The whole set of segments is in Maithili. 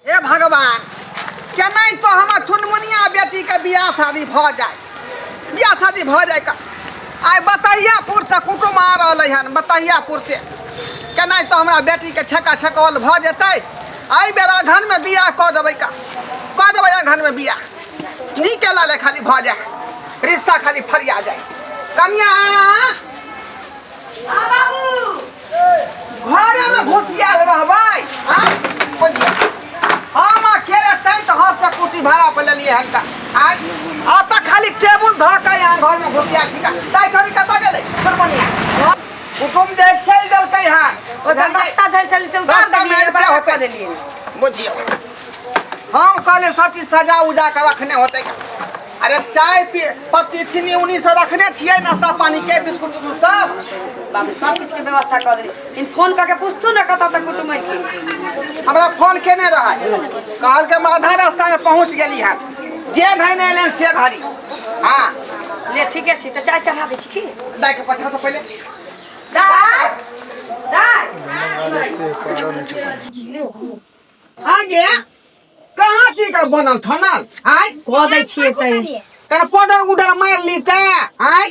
हे भगवान केनाइ तो हमर चुनमुनिया बेटी के बियाह शादी भ जाए बियाह शादी भ जाए का आइ बतहियापुर से कुटुम आ रहल हन बतहियापुर से केनाइ तो हमरा बेटी के छक्का छकौल भ जेतै एहि बेर अगहन में बियाह कऽ देबै का कऽ देबै अगहन में बियाह नीके लाले खाली भ जाए रिश्ता खाली फरिया जाए कन्या हाँ बाबू घरे में घुसियाल रहबै हाँ? बुझिया। हम अकेले तैं तो हाथ से कुर्सी भाड़ा पर लेलिए हम का आय अतः खाली टेबुल धऽ के यहाँ घर में घुसिया छिका तै छोड़ी कतऽ गेलै सुरमनिया कुटुम जे चलि देलकै हन ओ जब बक्सा धर चल से उतार रास्ता में देलिए आबि बाहर होतै। कर देलिए बुझिया हम कहले सब चीज सजा उजा के रखने होते अरे चाय पी पत्ती चीनी उनी से रखने छिए नाश्ता पानी के बिस्कुट उस्कुट सब बाबू सब कुछ के व्यवस्था कर दे इन फोन करके पूछतू ना कत तक कुटुम अइलखिन। हमरा फोन केने रहा कहल के हम आधा रास्ता में पहुंच गेली है जे घड़ी नहीं एलन से घड़ी हाँ ले ठीके छै तऽ चाय चढ़ा दै छी की दाय के पठा तो पहले दाय दाय आगे कहाँ छी का बनल ठनल आय कह दै छियै तै कर पाउडर उडर मार ली ते आय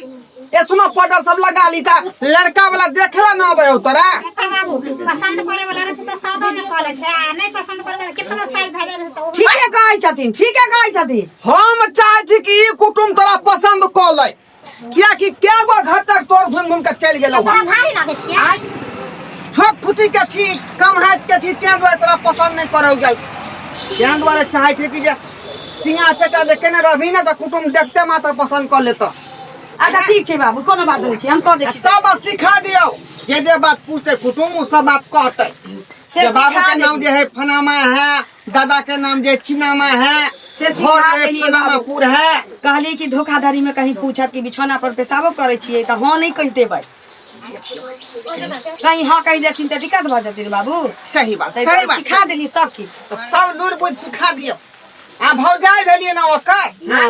ए सुनो पाउडर सब लगा ली ता लड़का वाला देखला ना आबे तोरा पसंद करे वाला रहे त सादा में कॉल छै आ नै पसंद करे वाला कितनो साइज भए जाय त ठीके कहै छथिन ठीके कहै छथिन हम चाहै छी कि ई कुटुम तोरा पसंद क लै किया कि कै गो घर तक तोर घूम घूम के चल गेलो आय छोट फुटी के छी कम हाथ के छी तें दुआरे तोरा पसंद नहीं करौ गेल तें दुआरे चाहे छै कि जे सिंगा पेटा जे केने रहबी ना त कुटुम देखते मात्र पसंद कर लेतो अच्छा ठीक छै बाबू कोनो बात नहीं छै हम कह दै छी सब बात सिखा दियो जे जे बात पूछते कुटुम उ सब बात कहते से जे बाबू सिखा के नाम देब। जे है फनामा है दादा के नाम जे चिनामा है से सिखा घर देनी है बाबू। पुर है कहली कि धोखाधड़ी में कहीं पूछत कि बिछौना पर पेशाबो करे छियै तऽ हँ नहि कहि देबै कहीं हँ कहि देथिन तऽ दिक्कत भऽ जेतै रे बाबू सही बात ताहि सही दुआरे बात सिखा देली सब किछु सब लूर बुझ सिखा दियो आ भौजाई भेलिए ना ओकर हाँ।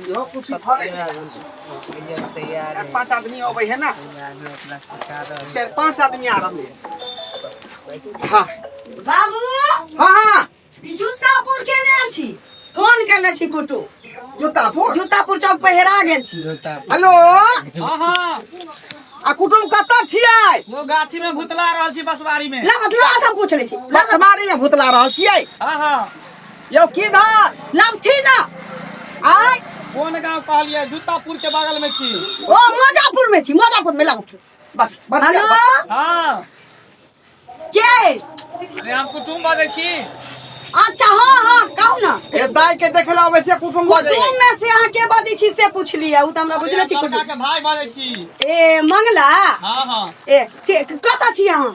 इहो कुर्सी भऽ गेल चारि पाँच आदमी अबै है ने चारि पाँच आदमी आ रहलै हाँ बाबू हाँ हाँ ई जूतापुर केने छी फोन केने छी कुटु जूतापुर जूतापुर चौक पर हेरा गेल छी हेलो हाँ हाँ आ कुटुम कतऽ छियै वो गाछी में भुतला रहल छी बसवारी में लाबत लाबत हम पूछ लै छी बसवारी में भुतला रहल छियै हाँ हाँ यौ की धार लमथी ना आय कोन गांव कहलिए जूतापुर के बगल में छी ओ मजापुर में छी मजापुर में लमथी बस बस हेलो हां के अरे हम कुटुम बाजै छी अच्छा हां हां कहू ना ए दाई के देखला वैसे कुटुम बाजै कुटुम में से अहाँ के बाजै छी से पूछ लिया उ त हमरा बुझले छी कुटुम के भाई बाजै छी ए मंगला हां हां ए कतऽ छी अहाँ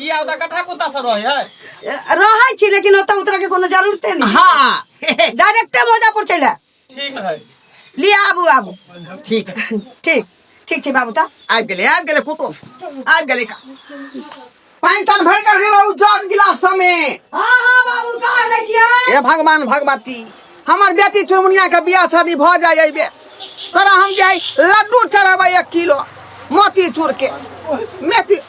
ई आउ दा कठा कुत्ता सब रहै है रहै छी लेकिन ओतऽ उतरा के कोनो जरूरते नहीं हाँ डायरेक्टे मोजापुर चले ठीक है लिया आबू आबू ठीक है ठीक ठीक छी बाबू ता आबि गेलै आबि गेलै कुटुम आबि गेलै का पानि तान भरि कर गेलौ जग गिलास समे हाँ हाँ बाबू का लै छियै हे भगवान भगवती हमर बेटी चुनमुनिया के बियाह शादी भऽ जाय अइबे तोरा हम जाय लड्डू चढ़ाबै एक किलो मोती चूर के मेथी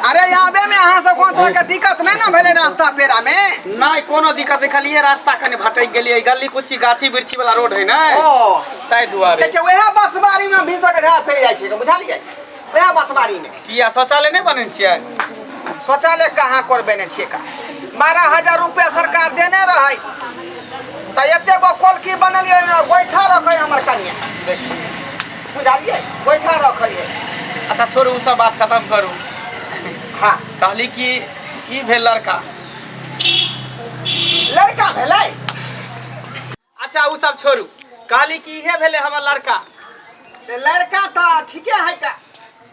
अरे आबे में अहाँ सब कोन तरहके दिक्कत नहि ने भेलै रास्ता पेरामे नहि कोनो दिक्कत नहि खाली ये रास्ता कने भटकि गेलियै गली कुची गाछी बिरछी वाला रोड है ने ओ ताहि दुआरे देखियौ उएह बसबारीमे भीसक ढाह फैल जाइ छै बुझलियै उएह बसबारीमे किया शौचालय नहि बनै छियै शौचालय कहाँ करबे नहि छियै का बारह हजार रुपया सरकार देने रहै तऽ एते गो कोलकी बनलियै ओहिमे गोइठा रखै हमर कनिया देखियौ बुझलिए गोइठा रखलिए अच्छा छोड़ू सब बात खत्म करू हाँ कहली कि ई भेल लड़का लड़का भेल अच्छा उ सब छोड़ू कहली कि इहे भेल हमर लड़का लड़का तो ठीके है का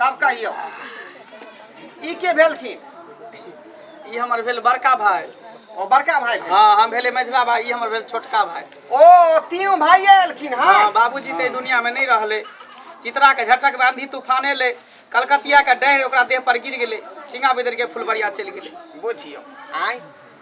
तब कहियो ई के भेलखिन ई हमर भेल बड़का भाई ओ बड़का भाई भेल। हाँ हम भेले मझिला भाई ई हमर भेल छोटका भाई ओ तीनों भाई एलखिन हाँ हँ बाबूजी तऽ एहि दुनिया में नहीं रहले चित्रा के झटक में आंधी तूफान एले कलकतिया के डहर ओकरा देह पर गिर गेले टिंगा बिदर के फुलबरिया चलि गेले बुझियो आय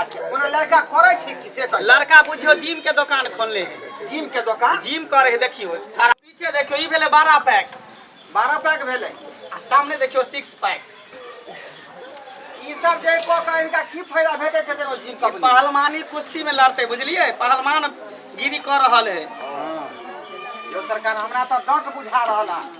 अच्छा कोनो लड़का करै छै कि से कहियौ। लड़का बुझियो जिम के दुकान खोलने है जिम के दोकान जिम करे है देखियो थारा पीछे देखियो ई भेले बारह पैक बारह पैक भेलै आ सामने देखियो सिक्स पैक ई सब जे कऽ कऽ इनका की फायदा भेटै छै कोनो जिम कंपनी पहलवानी कुश्ती में लड़ते बुझलिए पहलवान गिरी कर रहल है यो सरकार हमरा तऽ डट बुझा रहल है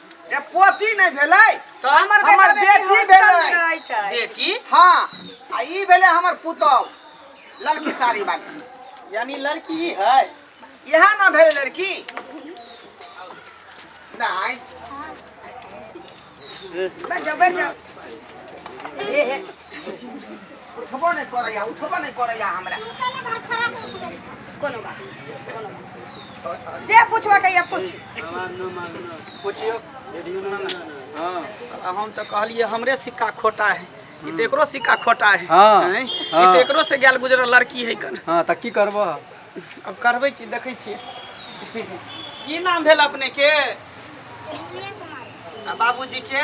ए पोती नहीं भेलै तो हमर बेटा हमर बेटी बेटी हॉस्टल में भेलै रहै छै बेटी हाँ आ ई भेलै हमर पुतौह लड़की साड़ी वाली यानी लड़की ही है इएह ना भेल लड़की नहीं बैठ जाओ बैठ जाओ उठबो नहि करैया उठबो नहि करैया हमरा कोनो बात कोनो बात जे पूछबा कहिया पूछ पूछियो हाँ साला हम तो कहलिए हमरे सिक्का खोटा है ई तो एकरो सिक्का खोटा है हाँ, हैं? ई हाँ। तो एकरो से गैल गुजरल लड़की है कन हाँ तऽ की करबह अब करबै की देखै छियै की नाम भेल अपने के आ बाबूजी के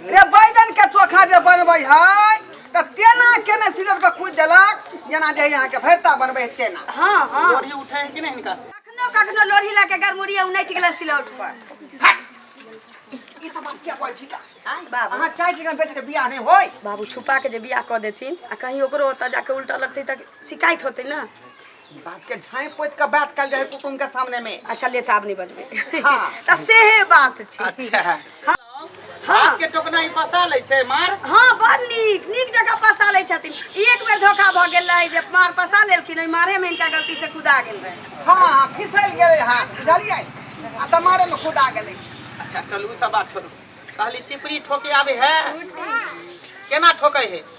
रे बैगन के चोखा जे बनबै है तऽ तेना केने सिलर पर कुटि देलक जेना जे यहाँ के भरता बनबै है तेना हाँ हाँ लोढ़ी उठे है कि नहीं इनका से कखनो कखनो लोढ़ी लऽ के गरमुरी उनटि गेलन सिलौट पर ई सब बात क्या कहै छी का आँय? बाबू। अहाँ चाहै छी कि बेटी के बियाह नहि होय बाबू छुपा के जे बियाह कऽ देथिन आ कहीं ओकरो ओतऽ जाके उल्टा लगतै तऽ शिकायत होतै ने बात के झाई पोत के बात कल जाए कुटुम के सामने में अच्छा ले ताब नहीं बजबे हाँ। त से हे बात छी अच्छा हाँ। हाथ के टोकना ही पसा ले छे मार हाँ बड़ नीक नीक जगह पसा लै छथिन एक बेर धोखा भऽ गेल रहै जे मार पसा लेलखिन ओहि मारे में इनका गलती से कुदा गेल रहै हाँ हाँ फिसल गेले हाँ बुझलिए आ तमारे में खुदा गेले अच्छा चलू सब बात छोड़ू कहली चिपरी ठोके आवे है केना ठोके है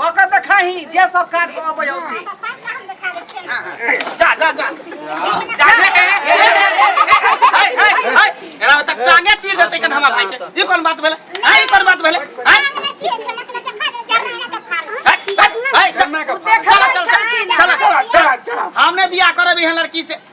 कऽ के देखाही जे सब काज कऽ अबै हौ से जा जा जा जा एना तक चांगे चीर देते कन हमार भाई के ई कोन बात भेले हां ई कोन बात भेले हां हाय सब चला चला चला हमने बियाह करबी है लड़की से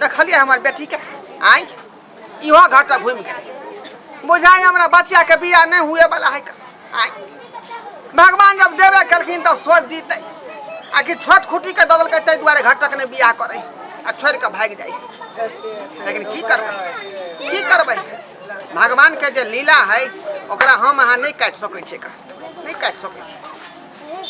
देखलिए हमर बेटी के आई इहो घाटा घूम गए बुझाई हमरा बच्चा के बिया नहीं हुए वाला है आई भगवान जब देवे कलखिन तो सोच दीते आ कि छोट खुटी के दबल के दुआरे घटक ने बिया करे आ छोड़ के भाग जाए लेकिन की करबे की करबे भगवान के जे लीला है ओकरा हम अहाँ नहीं काट सकै छियै नहीं काट सकै छियै